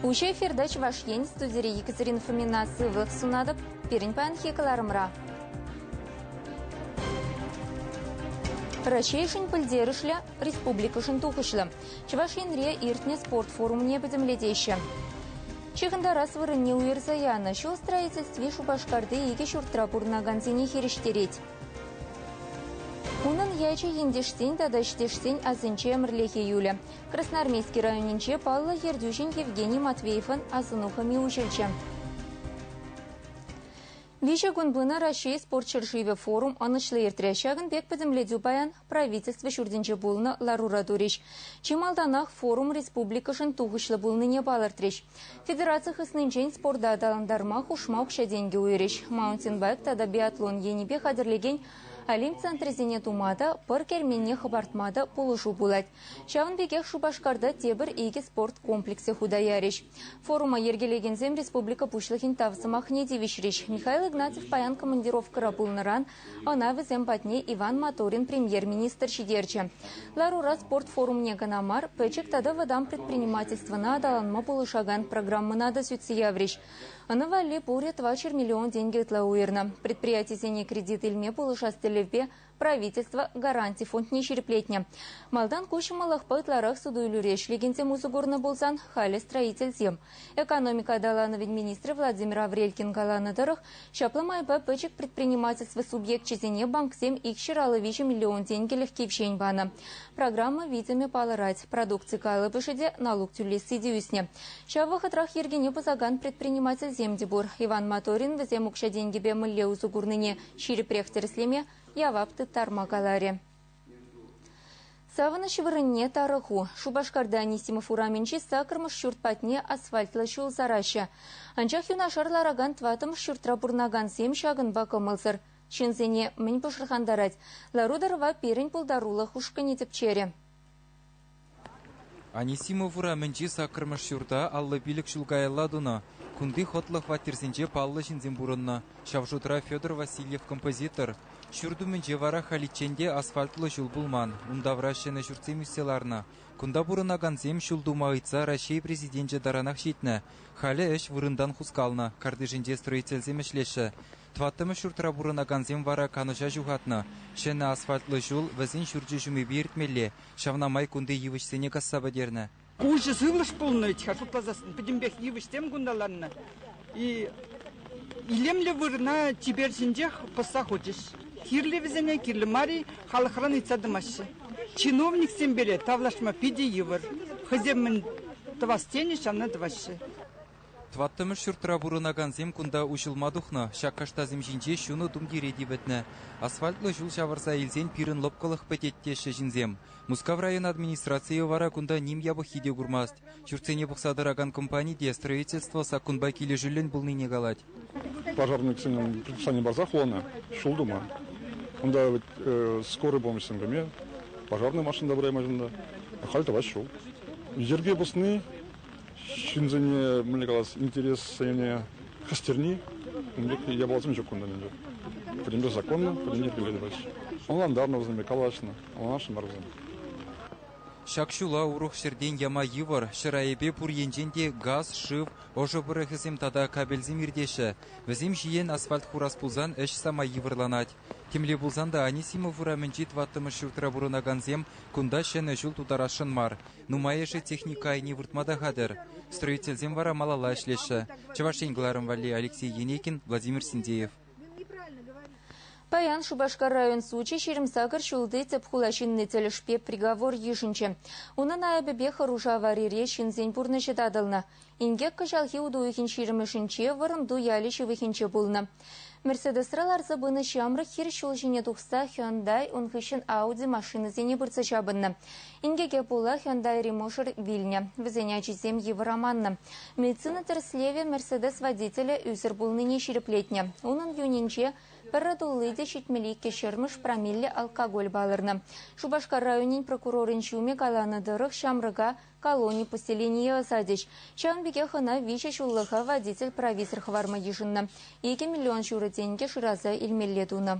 Уҫӑ эфирта Чӑваш Ен студири Екатерина Фомина сывлӑх сунатӑп пирӗн паянхи кӑларӑмра. Раҫҫейшӗн пӗлтерӗшлӗ, республикӑшӑн тухӑҫлӑ Чӑваш Енре иртнӗ спорт форумне пӗтӗмлетеҫҫӗ. Ҫыхӑнтарас вырӑнне уйӑрса янӑ ҫул строительстви Шупашкарти икӗ ҫуртра пурӑнакансене хирӗҫтерет. Унӑн ячӗ ентешсен тата ӗҫтешсен асӗнче ӗмӗрлӗхе юлӗ. Красноармейски районӗнче паллӑ ертӳҫин Евгений Матвеевӑн асӑну хӑми уҫӑлчӗ. Виҫӗ кун пынӑ Раҫҫей спорт ҫӗршывӗ форум ӑнӑҫлӑ иртрӗ. Ҫакӑн пек пӗтӗмлетӳ паян Правительство ҫуртӗнче пулнӑ ларура турӗҫ. Чи малтанах форум республикӑшӑн тухӑҫлӑ пулнине палӑртрӗҫ. Федераци хыснинчен спорта аталантарма хушма укҫа-тенкӗ уйӑрӗҫ. Маунтинбайк тата биатлон енӗпе хатӗрлекен Олимп центрӗсене тума та, пӑр керменне хӑпартма та пулӑшу пулать. Ҫавӑн пекех Шупашкарта тепӗр икӗ спорт комплексӗ хута ярӗҫ. Форума йӗркелекенсем республика Пуҫлӑхӗн тав сӑмахне тивӗҫрӗҫ. Михаил Игнатьев паян командировкӑра пулнӑран Ӑна вӗсем патне Иван Моторин премьер-министр ҫитерчӗ. Ларура спорт форумне кӑна мар, пӗчӗк тата вӑтам предпринимательствӑна аталанма пулӑшакан программӑна та сӳтсе яврӗҫ. Ӑна валли пурӗ 2 миллион тенкӗ ытла уйӑрнӑ. Предприятисене кредит илме пулӑшас тӗллевпе правительство гаранти фондне ҫирӗплетнӗ. Малтан ку ҫӑмӑллӑхпа ытларах суту-илӳре ӗҫлекенсем усӑ курнӑ пулсан, халӗ строительсем. Экономика аталанӑвӗн министрӗ Владимир Аврелькин каланӑ тӑрӑх, ҫапла майпа пӗчӗк предпринимательство субъекчӗсене банксем икҫӗр алӑ виҫӗ миллион тенкӗлӗх кивҫен панӑ. Программа витӗмӗ палӑрать, продукци калӑпӑшӗ те, налук тӳлесси те ӳснӗ. Ҫав вӑхӑтрах йӗркене пӑсакан предпринимательсем те пур. Иван Моторин вӗсем укҫа-тенкӗпе мӗнле усӑ курнине ҫирӗпрех тӗрӗслеме, явап тыттарма каларӗ. Савӑнӑҫ вырӑнне тарӑху. Шупашкарта Анисимов урамӗнчи саккӑрмӗш ҫурт патне асфальтлӑ ҫул сараҫҫӗ. Анчах юнашар ларакан тӑваттӑмӗш ҫуртра пурӑнакансем ҫакӑнпа кӑмӑлсӑр. Ҫынсене мӗн пӑшӑрхантарать? Лару-тӑрӑва пирӗн пултарулӑх ушкӑнӗ тӗпчерӗ. Анисимов урамӗнчи саккӑрмӗш ҫурта аллӑ пилӗк ҫул каялла тунӑ. Кунти хӑтлӑ хваттерсенче паллӑ ҫынсем пурӑннӑ, ҫав шутра Федор Васильев композитор. Ҫурт умӗнче вара халиччен те асфальтлӑ ҫул пулман, ун тавра ҫӗнӗ ҫуртсем ӳссе ларнӑ. Кунта пурӑнакансем ҫул тума ыйтса Раҫҫей Президенчӗ таранах ҫитнӗ. Халӗ ӗҫ вырӑнтан хускалнӑ, картишӗнче строительсем ӗҫлеҫҫӗ. Тӑваттӑмӗш ҫуртра пурӑнакансем вара канӑҫа ҫухатнӑ. Ҫӗнӗ асфальтлӑ ҫул, вӗсен ҫурчӗ ҫумӗпе иртмелле. Ҫавна май кунти йывӑҫсене касса пӗтернӗ. Пуҫӗ сывлӑш пулнӑ вӗт-ха, шутласассӑн пӗтӗмпех йывӑҫсем кунталаннӑ-и. Илемлӗ вырӑна чипер ҫинчех пӑсса хучӗҫ. Кирлӗ вӗсене, кирлӗ мар-и, халӑхран ыйтса тӑмаҫҫӗ. Чиновниксем пире тавлашма питӗ йывӑр. Хӑйсем мӗн тӑвас тенӗ, ҫавна тӑваҫҫӗ. Тӑваттӑмӗш ҫуртра пурӑнакансем кунта уҫӑлма тухнӑ. Ҫак каштасем ҫинче ҫунӑ тумтире типӗтнӗ. Асфальтлӑ ҫул ҫавӑрса илсен пирӗн лӑпкӑлӑх пӗтет теҫҫӗ ҫынсем. Мускав район администрацийӗ вара кунта ним япӑххи те курмасть. Ҫуртсене пухса тӑракан компани те строительство саккунпа килӗшӳллӗн пулнине калать. Пожарниксенӗн предписани парсах хулана ҫул тума. Кунта вӗт скорый помощьсем пеме, пожарнӑй машина та пыраймашӑн та. Халь тӑваҫ ҫул. Йӗрке пӑсни ҫынсене мӗнле калас интерессене хӗстерни ун пек япаласем ҫук кунта ӗнтӗ. Пӗтӗмпе законлӑ, пӗтӗм йӗркелле тӑваҫҫӗ. Ӑнлантарнӑ вӗсемпе, калаҫнӑ, ӑнланашнӑ мар вӗсем. Ҫак ҫула урӑх ҫӗртен яма йывӑр, ҫӗр айӗпе пур енчен те газ, шыв, ӑшӑ пӑрӑхӗсем тата кабельсем иртеҫҫӗ. Вӗсем ҫиен асфальт хурас пулсан ӗҫ самай йывӑрланать. Темле пулсан та Анисимов урамӗнчи тӑваттӑмӗш ҫуртра пурӑнакансем кунта ҫӗнӗ ҫул тутарасшӑн мар. Нумайӑшӗ техника айне выртма та хатӗр. Строительсем вара малалла ӗҫлеҫҫӗ. Чӑваш Ен кӑларӑм валли Алексей Енейкин, Владимир Синдеев. Паян Шупашкар район сучӗ ҫирӗм сакӑр ҫулти тӗп хула ҫынни тӗлӗшпе приговор йышӑнчӗ. Унӑн айӑпӗпе хӑруш аварире ҫынсен пурнӑҫӗ татӑлнӑ. Инкек кӑҫалхи утуйӑхӗн ҫирӗмӗшӗнче Вӑрӑмту ялӗ ҫывӑхӗнче пулнӑ. Мерседесра ларса пынӑ ҫамрӑк хир ҫул ҫине тухса Hyundai ун хыҫҫӑн Audi машинӑсене пырса ҫапӑннӑ. Инкеке пула Hyundai мушӑр вилнӗ. Вӗсен ачисем йывӑр аманнӑ. Медицина тӗрӗслевӗ Мерседес водителӗ ӳсӗр пулнине ҫирӗплетнӗ. Унӑн юнӗнче пӗрре тулли те ҫитмелли иккӗшермӗш промилле алкоголь палӑрнӑ. Шупашкар районӗн прокурорӗн ҫумӗ каланӑ тӑрӑх ҫамрӑка Колони поселенийӗ ӑсатӗҫ. Ҫавӑн пекех ӑна виҫӗ ҫуллӑха водитель-провизор хӑварма йышӑннӑ. Икӗ миллион ҫурӑ тенкӗ шыраса илмелле тунӑ.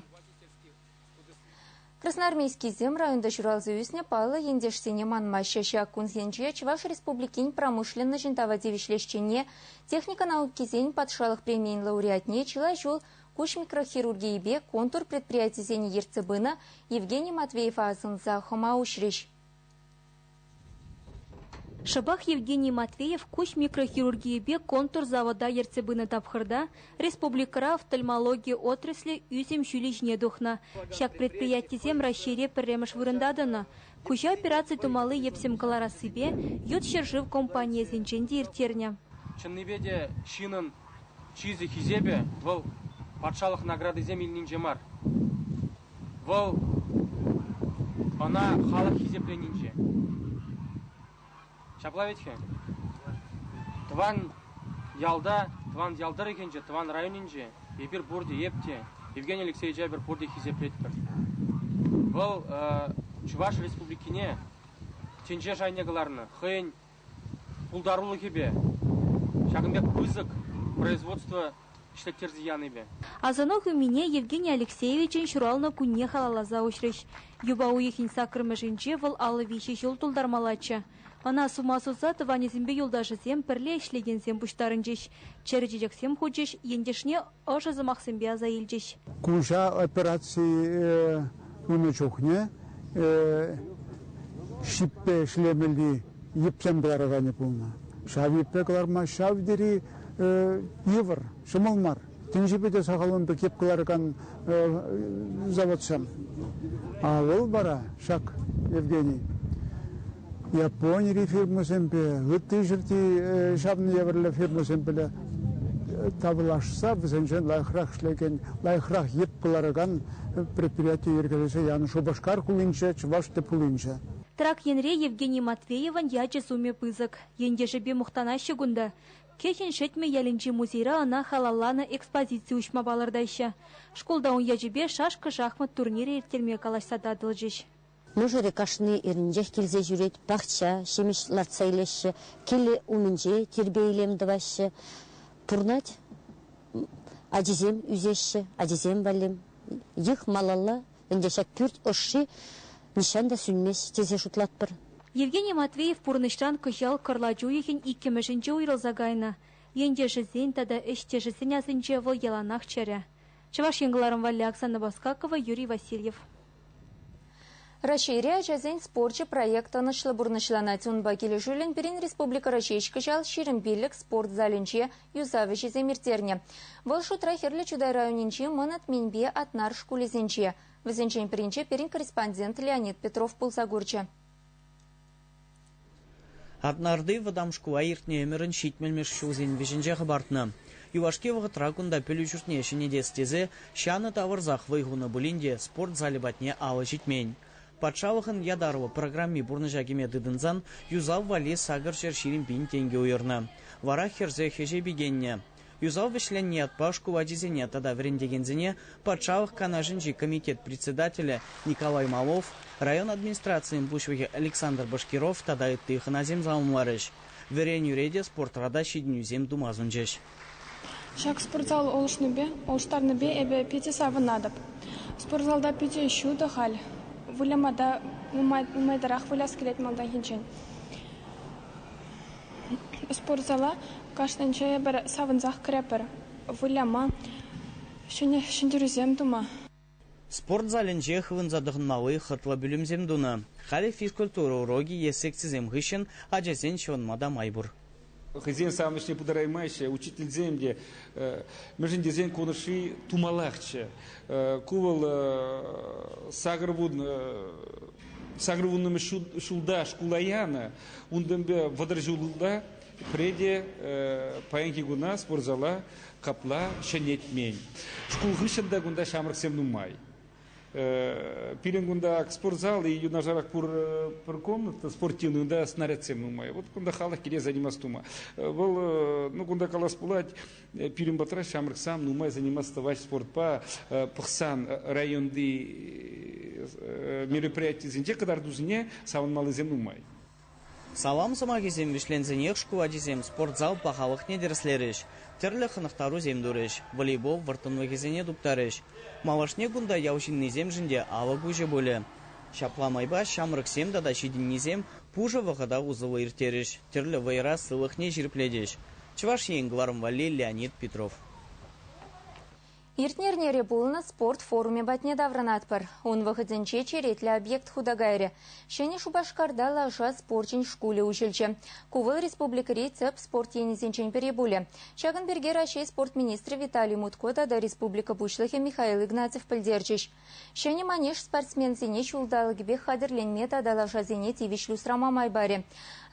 Красноармейскисем районта ҫуралса ӳснӗ паллӑ ентешсене манмаҫҫӗ. Ҫак кунсенче Чӑваш Республикин промышленноҫӗн тава тивӗҫлӗ ӗҫченне, техника наукисен патшалӑх премийӗн лауреатне чылай ҫул куҫ микрохирургийӗпе контур предприятисене ертсе пынӑ Евгений Матвеева асӑнса хӑма уҫрӗҫ. Шӑпах Евгений Матвеев куҫ микрохирургийӗпе контур-завода ертсе пынӑ тапхӑрта республикӑра офтальмологи отраслӗ ӳсӗм ҫулӗ ҫине тухнӑ. Ҫак предприятисем Раҫҫейре пӗрремӗш вырӑнта тӑнӑ. Куҫа операци тумалли йӗпсем кӑларассипе ют ҫӗршыв компанийӗсенчен те ирттернӗ. Чӑннипе те ҫынӑн чысӗ, хисепӗ вӑл патшалӑх наградисем илнинче мар. Вӑл ӑна халӑх хисепленинче. Ҫапла вӗт-ха. Тӑван ялта, тӑван ял тӑрӑхӗнче, тӑван районӗнче эпир пурте, эп те, Евгений Алексеевич эпир пурте хисеплетпӗр. Вӑл Чӑваш Республикине тӗнче шайне кӑларнӑ, хӑйӗн пултарулӑхӗпе, ҫакӑн пек пысӑк производство ӗҫлеттерсе янипе. Асӑну хывмине Евгений Алексеевичӑн ҫуралнӑ кунне халалласа уҫрӗҫ. Юпа уйӑхӗн саккӑрмӗшӗнче вӑл аллӑ виҫӗ ҫул тултармаллаччӗ. Ӑна сума суса тӑванӗсемпе юлташӗсем, пӗрле ӗҫлекенсем пуҫтарӑнчӗҫ, чӗрӗ чечексем хучӗҫ, ентешне ӑшӑ сӑмахсемпе аса илчӗҫ. Куҫа операцие пынӑ чухне ҫиппе ӗҫлемелли йӗпсем кӑлараканӗ пулнӑ. Ҫав йӗппе кӑларма ҫав тери йывӑр, ҫӑмӑл мар. Тӗнчипе те сахалӑн пек йӗп кӑларакан заводсем. А вӑл вара ҫак, Евгений, Японири фирмӑсемпе, ытти ҫӗрти ҫавӑн евӗрлӗ фирмӑсемпе тавлашса вӗсенчен лайӑхрах ӗҫлекен, лайӑхрах йӗп кӑларакан предприяти йӗркелесе янӑ Шупашкар хулинче, Чӑваш тӗп хулинче. Трак енре Евгений Матвеевӑн ячӗ-сумӗ пысӑк. Ентешӗпе мухтанаҫҫӗ кунта. Кӗҫӗн Шетмӗ ялӗнчи музейра ӑна халалланӑ экспозици уҫма палӑртаҫҫӗ. Шкулта ун ячӗпе шашка-шахмат турнирӗ ирттерме калаҫса татӑлчӗҫ. Мӑшӑрӗ кашни эрнинчех килсе ҫӳрет, пахча, ҫимӗҫ лартса илеҫҫӗ, килӗ умӗнче тирпей-илем тӑваҫҫӗ. Пурӑнать. Ачисем ӳсеҫҫӗ, ачисем валли йӑх малалла. Ӗнтӗ ҫак пӳрт ӑшши нихҫан та сӳнмест тесе шутлатпӑр. Евгений Матвеев пурнӑҫран кӑҫал кӑрлач уйӑхӗн иккӗмӗшӗнче уйрӑлса кайнӑ. Ентешӗсен тата ӗҫтешӗсен асӗнче вӑл яланах чӗрӗ. Чӑваш Ен кӑларӑм валли Оксана Баскакова, Юрий Васильев. Раҫҫейри ачасен спорчӗ проект ӑнӑҫлӑ пурнӑҫланать. Унпа килӗшӳллӗн пирӗн республикӑра ҫеҫ кӑҫал ҫирӗм пиллӗк спорт залӗнче юсав ӗҫӗсем ирттернӗ. Вӑл шутра Хӗрлӗ Чутай районӗнчи Мӑн Атминпе Атнар шкулӗсенче. Вӗсенчен пӗринче пирӗн корреспондент Леонид Петров пулса курчӗ. Атнарти вӑтам шкула иртнӗ ӗмӗрӗн ҫитмӗлмӗш ҫулсен вӗҫӗнче хӑпартнӑ. Юлашки вӑхӑтра кунта пӗлӳ ҫуртне ҫӗнетес тесе ҫанӑ тавӑрсах вӑй хунӑ пулин те спорт залӗ патне алӑ ҫитмен. Патшалӑхӑн ятарлӑ программи пурнӑҫа кӗме тытӑнсан юсав валли сакӑр ҫӗр ҫирӗм пин тенкӗ уйӑрнӑ. Вара хӗрсе хӗҫе пикеннӗ. Юсав вӗҫленнӗ ятпа шкул ачисене тата вӗрентекенсене Патшалӑх Канашӗнчи комитет председателӗ Николай Малов, район администрацийӗн пуҫлӑхӗ Александр Башкиров тата ытти хӑнасем саламларӗҫ, вӗренӳре те, спортра та ҫитӗнӳсем тума сунчӗҫ. Ҫак спортзал улшӑннипе, улӑштарнипе эпӗ питӗ савӑнатӑп. Спортзалта питӗ ҫутӑ халь. Выляма та нумайрах выляс килет малтанхинчен. Спортзала кашнинче эпир савӑнсах кӗретпӗр, выляма, ҫӗнӗ ҫӗнтерӳсем тума. Спорт залӗнче хывӑнса тӑхӑнмалли хӑтлӑ пӳлӗмсем тунӑ. Халӗ физкультура урокӗ е секцисем хыҫҫӑн ачасен ҫӑвӑнма та май пур. Хӑйсен савӑнӑҫне ӗҫне пытараймаҫҫӗ, учительсем те, мӗншӗн тесен ку ӑнӑҫри тумаллахчӗ. Ку вӑл сакӑр вун Сакӑрвуннӑмӗш ҫулта шкула янӑ. Унтанпа вӑтӑр ҫулта пӗре те паянхи куна спортзала капла ҫӗнетмен. Шкул хыҫҫӑн та кунта ҫамрӑксем нумай. Пирӗн кунта спортзал и юнашарах пур, пӗр комната спортивная, унта снарядсем нумай. Вот кунта халӑх киле заниматься тума. Вӑл, ну, кунта калас пулать, Пирӗн патра ҫамрӑксем нумай заниматься тӑваҫ спортпа пӑхсан районти мероприятисенче кӑтартусене савӑнмаллисем нумай. Салам сӑмахӗсем вӗҫленсенех шкул ачисем спортзал пахалӑхне тӗрӗслерӗҫ, тӗрлӗ хӑнӑхтарусем турӗҫ, волейбол вӑрттӑнлӑхӗсене туптарӗҫ. Малашне кунта ял ҫыннисемшӗн те авӑ куҫӗ пулӗ. Ҫапла майпа ҫамрӑксем тата ҫитӗннисем пушӑ вӑхӑта усӑллӑ ирттерӗҫ, тӗрлӗ вӑйӑра сывлӑхне ҫирӗплетӗҫ. Чӑваш Ен кӑларӑм валли Леонид Петров. Иртнӗ эрнере пулнӑ спорт форумӗ патне таврӑнатпӑр. Ун вӑхӑтӗнче черетлӗ объект хута кайрӗ. Ҫӗнӗ Шупашкарта лаша спорчӗн шкулӗ уҫӑлчӗ. Ку вӑл республикӑри тӗп спорт енӗсенчен пӗри пулӗ. Ҫакӑн пирки Раҫҫей спорт министрӗ Виталий Мутко тата республика Пуҫлӑхӗ Михаил Игнатьев пӗлтерчӗҫ. Ҫӗнӗ манеж спортсменсене ҫулталӑкӗпех хатӗрленме тата лашасене тивӗҫлӗ усрама май парӗ.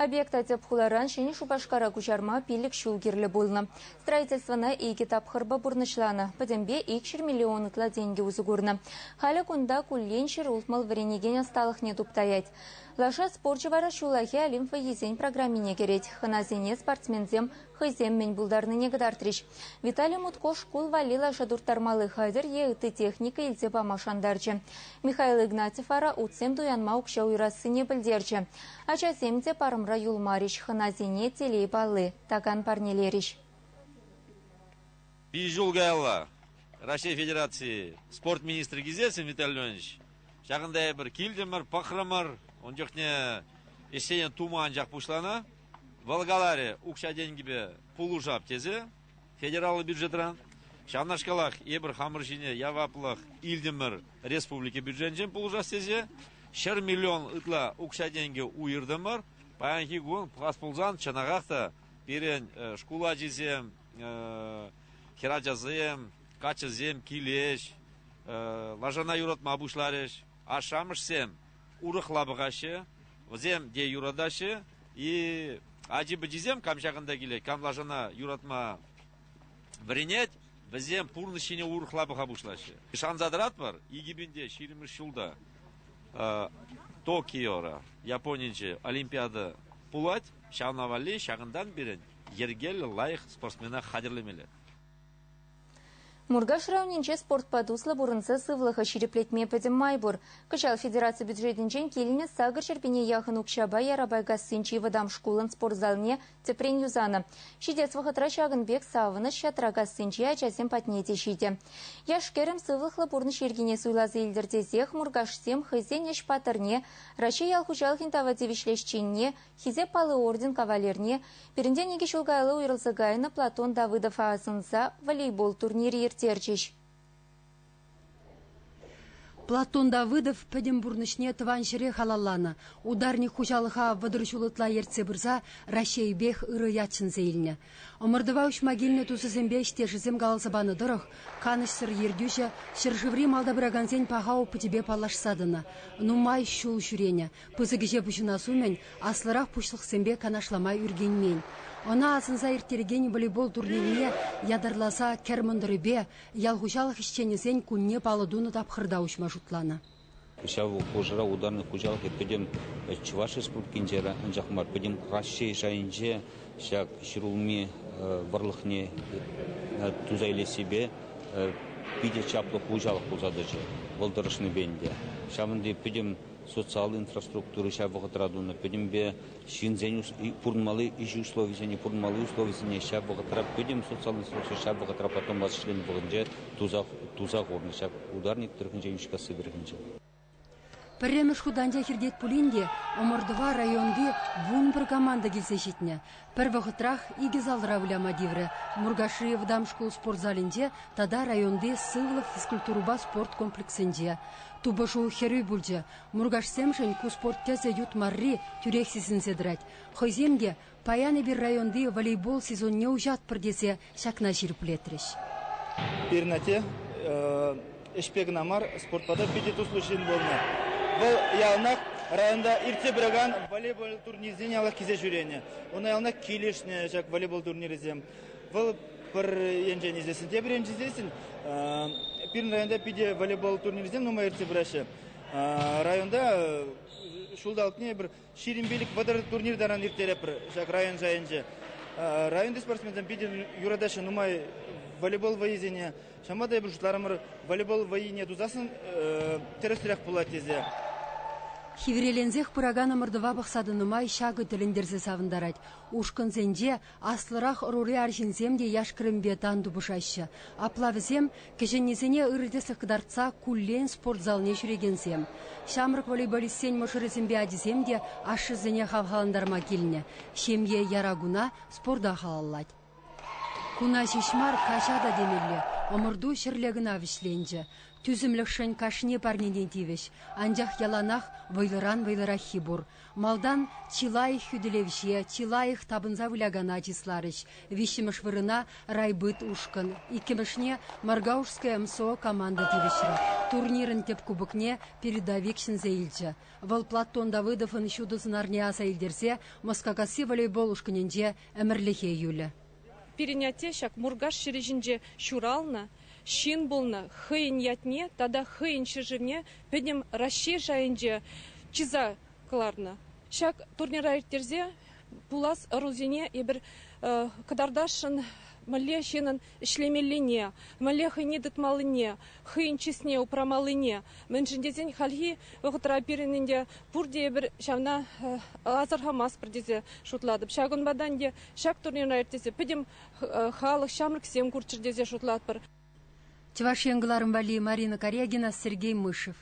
Объекта тӗп хуларан Ҫӗнӗ Шупашкара куҫарма пилӗк ҫул кирлӗ пулнӑ. Строительствӑна икӗ тапхӑрпа пурнӑҫланӑ, пӗтӗмпе икҫӗр миллион ытла тенкӗ усӑ курнӑ. Халӗ кунта куллен ҫӗр ултмӑл вӗренекен ӑсталӑхне туптаять. Лаша спорчӗ вара ҫуллахи Олимп вӑййисен программине кӗрет. Хӑнасене спортсменсем хӑйсем мӗн пултарнине кӑтартрӗҫ. Виталий Мутко шкул валли лаша турттармалли хатӗр е ытти техника илсе пама шантарчӗ. Михаил Игнатьев вара утсем туянма укҫа уйӑрассине пӗлтерчӗ. Ачасем те парӑмра юлмарӗҫ, хӑнасене телей палли такан парнелерӗҫ. Ҫӗнӗ ҫул каялла Раҫҫей Федерацийӗ спорт министрӗ килсессӗн, Виталий Леонидович, ҫакӑнта эпир килтӗмӗр, пӑхрӑмӑр. Ун чухне ӗҫсен тума анчах пуҫланӑ. Вӑл каларӗ, укҫа-тенкӗпе пулӑшап тесе федераллӑ бюджетра ҫавнашкалах эпир хамӑр ҫине яваплӑх илтӗмӗр республика бюджетӗнчен пулӑшас тесе ҫӗр миллион ытла укҫа-тенкӗ уйӑртӑмӑр. Паянхи кун пулас пулсан чӑнахах та пирӗн шкул ачисем, хӗрачасем, каччӑсем килӗҫ, лашана юратма пуҫларӗҫ. Ашшӗ-амӑшсем урӑхла пӑхаҫҫӗ, вӗсем те юратаҫҫӗ. И ачи-пӑчисем кам ҫакӑнта килет, кам лашана юратма вӗренет, вӗсем пурнӑҫ ҫине урӑхла пӑха пуҫлаҫҫӗ. Шанса тӑратпӑр, икӗпинте ҫирӗммӗш ҫулта Токиора Японинче Олимпиада пулать. Ҫавна валли ҫакӑнтан пирӗн йӗркеллӗ лайӑх спортсмена хатӗрлемелле. Муркаш районӗнче спортпа туслӑ пурӑнса сывлӑха ҫирӗплетме пӗтӗм май пур. Кӑҫал федераци бюджетӗнчен килнӗ сакӑр ҫӗрпене яхӑн укҫапа Ярапайкассинчи вӑтам шкулӑн спорт залне тӗпрен юсанӑ. Ҫитес вӑхӑтра ҫакӑн пек савӑнӑҫ Ҫатракассинчи ачасем патне те ҫитӗ. Яш-кӗрӗм сывлӑхлӑ пурнӑҫ йӗркине суйласа илтӗр тесех муркашсем хӑйсен ӗҫ паттӑрне, Раҫҫей ял хуҫалӑхӗн тава тивӗҫлӗ ӗҫченне, Хисеп палли орден кавалерне пирӗнтен икӗ ҫул каялла уйрӑлса кайнӑ Платон Давыдова асӑнса волейбол турнирӗ ирттерчӗҫ. Платон Давыдов пӗтӗм пурнӑҫне тӑван ҫӗре халалланӑ. Ударник хуҫалӑха вӑтӑр ҫул ытла ертсе пырса Раҫҫейӗпех ырӑ ят ҫӗнсе илнӗ. Ӑмӑртӑва уҫма килнӗ тусӗсемпе ӗҫтешӗсем каласа панӑ тӑрӑх, канӑҫсӑр ертӳҫӗ ҫӗршыври малта пыракансен паха опычӗпе паллашса тӑнӑ. Нумай ҫул ҫӳренӗ, Пысӑк ӗҫе пуҫӑнас умӗн аслӑрах пуҫлӑхсемпе канашлама ӳркенмен. Ӑна асӑнса ирттерекен волейбол турнирне ятарласа Кӗр мӑнтӑрӗпе ял хуҫалӑх ӗҫченӗсен кунне паллӑ тунӑ тапхӑрта уҫма шутланӑ. Ҫав хушӑра Ударник хуҫалӑхӗ пӗтӗм Чӑваш Республикинче, анчах мар, пӗтӗм Раҫҫей шайӗнче ҫак ҫӗрулми вӑрлӑхне туса илессипе питӗ чаплӑ хуҫалӑх пулса тӑчӗ вӑл тӑрӑшнипе ӗнтӗ. Ҫавӑн пек пӗтӗм социаллӑ инфраструктура ҫав вӑхӑтра тунӑ пӗтӗмпе ҫынсен пурӑнмалли ӗҫ условисене пурӑнмалли условисене ҫав вӑхӑтра пӗтӗм социаллӑ институтсем ҫав вӑхӑтра потом вӗҫленнӗ вӑхӑтӗнче туса, туса хурнӑ ҫак ударник тӑрӑхӗнче Йӳҫкасси тӑрӑхӗнче. Пӗрремӗш хут анчах иртет пулин те ӑмӑртӑва районти вунпӗр команда килсе ҫитнӗ. Пӗр вӑхӑтрах икӗ залра выляма тиврӗ. Муркашри вӑтам шкул спорт залӗнче тата районти Сывлӑх физкультурӑпа спорт комплексӗнче тупӑшу хӗрӳ пулчӗ. Муркашсемшӗн ку спорт тӗсӗ ют марри тӳрех сисӗнсе тӑрать. Хӑйсем те паян эпир районти волейбол сезонне уҫатпӑр тесе ҫакна ҫирӗплетрӗҫ. Перинате ӗҫпе кӑна мар, спортпа та питӗ туслӑ ҫын пулнӑ. Вӑл яланах районта иртсе пыракан волейбол турнирсене аллаккисе ҫӳренӗ. Уна яланах килӗшнӗ ҫак волейбол турнирӗсем. Вӑл пӗр енчен исессӗн, тепӗр енчен исессӗн пирӗн районта питӗ волейбол турнирӗсем нумай иртсе пыраҫҫӗ. Районта ҫулталӑкне пӗр Ҫирӗм пилӗк вӑтӑр турнир таран ирттереппӗр ҫак район шайӗнче. Районти спортсменсем питӗ юратаҫҫӗ нумай волейбол вӑйисене. Ҫавӑнпа та эпир шутларӑмӑр волейбол вӑййине тусассӑн тӗрӗсрех пулать тесе. Хивреленсех пыракан ӑмӑртӑва пӑхса тӑнӑ май ҫакӑ тӗлӗнтерсе савӑнтарать. Ушкӑнсенче Аслӑрах ӑрури арҫынсем те яш-кӗрӗмпе тан тупӑшаҫҫӗ. Апла вӗсем, кӗҫӗннисене ырӑ тӗслӗх кӑтартса, куллен спортзалне ҫӳрекенсем. Ҫамрӑк волейболистсен мӑшӑрӗсемпе ачисем те ашшӗсене хавхалантарма килнӗ. Ҫемье яра куна спорта халаллать. Куна ҫеҫ мар, каҫа та темелле. Ӑмӑрту ҫӗрле кӑна вӗҫленчӗ. Тӳсӗмлӗхшӗн кашни парнене тивӗҫ. Анчах яланах вӑйлӑран вӑйлӑраххи пур. Малтан чи лайӑх хӳтӗлевҫе, чи лайӑх тапӑнса вылякана чысларӗҫ. Виҫҫӗмӗш вырӑна райбыт ушкӑн, иккӗмӗшне Моргаушское МСО команда тивӗҫрӗ. Турнирӑн тӗп кубокне передовик ҫӗнсе илчӗ. Вӑл Платон Давыдовӑн ҫутӑ сӑнарне аса илтерсе Москакасси волейбол ушкӑнӗнче ӗмӗрлӗхе юлӗ. Пирӗн атте ҫак Муркаш ҫӗрӗ ҫинче ҫуралнӑ ҫын пулнӑ. Хӑйӗн ятне тата хӑйӗн ҫӗршывне пӗтӗм Раҫҫей шайӗнче чыса кӑларнӑ. Ҫак турнира ирттерсе пулас ӑрусене эпир кӑтартасшӑн, мӗнле ҫынӑн ӗҫлемеллине, мӗнле хӑйне тытмаллине, хӑйӗн чысне упрамаллине, мӗншӗн тесен хальхи вӑхӑтра пирӗн ӗнтӗ пурте эпир ҫавна асӑрхамастпӑр тесе шутлатӑп. Ҫакӑнпа та ӗнтӗ Ҫак турнира иртесе пӗтӗм халӑх ҫамрӑксем курччӑр тесе шутлатпӑр. Чӑваш Ен кӑларӑм валли Марина Корягина, Сергей Мышев.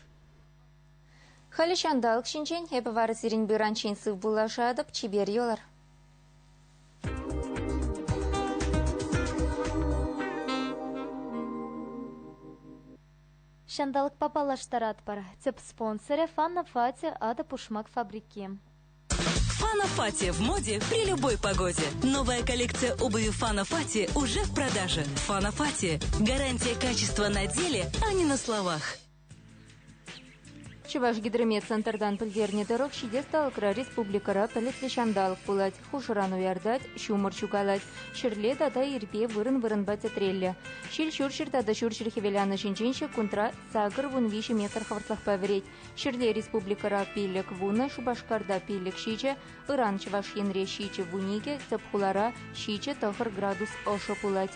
Халӗ ҫанталӑк ҫинчен эпӗ вара сирӗн бюранчен сыв пуллашатӑп, чипер юлӑр. Ҫанталӑкпа паллаштаратпӑр. Тӗп спонсорӗ Фанна Фати, Атӑ пушмак фабрики. Фанофати в моде при любой погоде. Новая коллекция обуви Фанофати уже в продаже. Фанофати. Гарантия качества на деле, а не на словах. Чӑваш гидромедцентртан пӗлтернӗ тӑрӑх ҫитес талӑкра республикӑра пӗлӗтлӗ ҫанталӑк пулать. Хушӑран уяртать, ҫумӑр ҫукалать. Ҫӗрле тата ирпе вырӑн-вырӑнпа тӗтреллӗ. Ҫил ҫурҫӗр тата ҫурҫӗр хӗвеланӑ ҫинчен ҫеккунтра сакӑр вун виҫӗ метр хӑвӑртлӑхпа вӗрет. Ҫӗрле республикӑра пилӗк вунӑ, Шупашкарта пилӗк ҫичӗ, ыран Чӑваш Енре ҫичӗ вун икӗ, тӗп хулара ҫичӗ тӑхӑр градус ӑшӑ пулать.